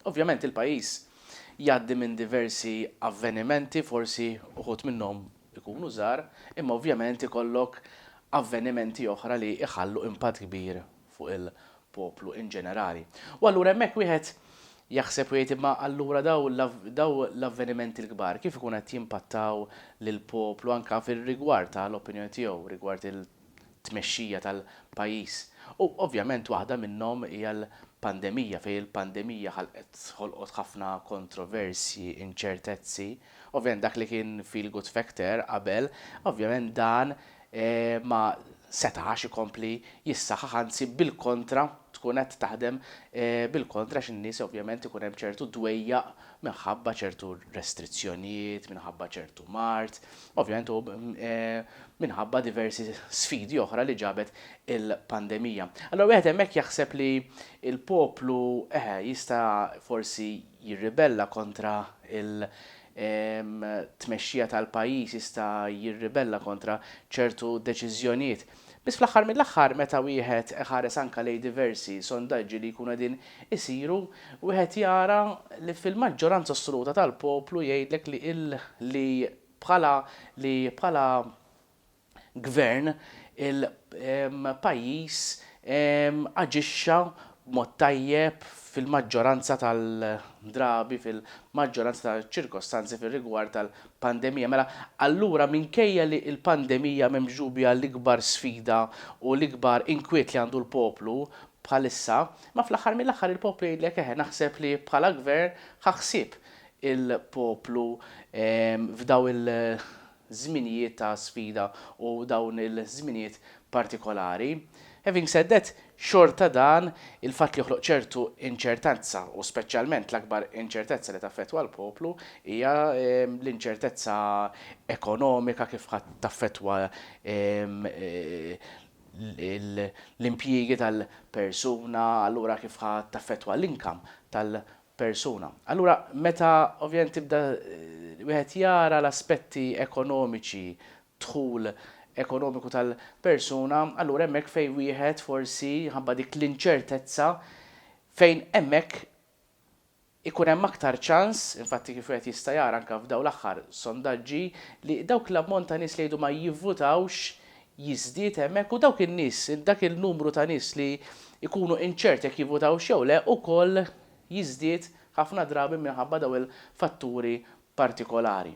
Ovvjament il-pajjiż jgħaddi minn diversi avvenimenti, forsi uħud minnhom ikunu żgħar, imma ovvjament ikollok avvenimenti oħra li jħallu impatt kbir fuq il-poplu in ġenerali. U allura hemmhekk wieħed jaħseb u jgħid imma allura dawn l-avvenimenti l-kbar kif ikun qed jimpattaw lill-poplu anke fir-rigward tal-opinjoni tiegħu rigward tmexxija tal-pajjiż u ovvjament waħda minnhom hija l-pandemija fejn il-pandemija ħalqet ħolqot ħafna kontroversji, inċertezzi. Ovvjament dak li kien feel good factor qabel ovvjament dan ma setax ikompli jissaħħaħ anzi bil-kontra tkun qed taħdem bil-kontra għax in-nies ovvjament ikun hemm ċertu dwejjaq minħabba ċertu restrizzjonijiet, minħabba ċertu mard. Ovvjament u minħabba diversi sfidi oħra li ġabet il-pandemija. Allura wieħed hemmhekk jaħseb li l-poplu eħe jista' forsi jirribella kontra il- tmexxija tal-pajjiż jista' jirribella kontra ċertu deċiżjonijiet. Biss fl-aħħar mill-aħħar meta wieħed iħares anke lejn diversi sondaġġi li jkunu qegħdin isiru, wieħed jara li fil-maġġoranza assoluta tal-poplu jgħidlek li il li bħala li bħala Gvern il pajjiż aġixxa b'mod tajjeb fil-maġġoranza tal drabi, fil-maġġoranza ta' ċirkostanzi fir-rigward tal pandemija. Mela, allura minkejja li l-pandemija m'hemmx dubja l-ikbar sfida u l-ikbar inkwiet li għandu l-poplu bħalissa, imma fl-aħħar mill-aħħar il-poplu jgħidlek eħe naħseb li bħala Gvern ħa ħsieb il-poplu f'dawn il-żminijiet ta' sfida u dawn il-żminijiet partikolari. Having said that, Xorta dan il-fatt li joħloq ċertu inċertezza u speċjalment l-akbar inċertezza li taffettwa l-poplu hija l-inċertezza ekonomika kif ħa taffettwa l-impjiegi tal-persuna, allura kif ħa taffettwa l-income tal-persuna. Allura meta ovvjament tibda wieħed jara l-aspetti ekonomiċi dħul ekonomiku tal-persuna, allura hemmhekk fejn wieħed forsi minħabba dik l-inċertezza fejn hemmhekk ikun hemm aktar ċans, infatti kif wieħed jista' jara anke f'dawn l-aħħar sondaġġi, li dawk l-ammont ta' nies li jgħidu ma jivvutawx jiżdied hemmhekk u dawk in-nies, dak il-numru ta' nies li jkunu inċerti jekk jivvutawx jew le ukoll jiżdied ħafna drabi minħabba dawn il-fatturi partikolari.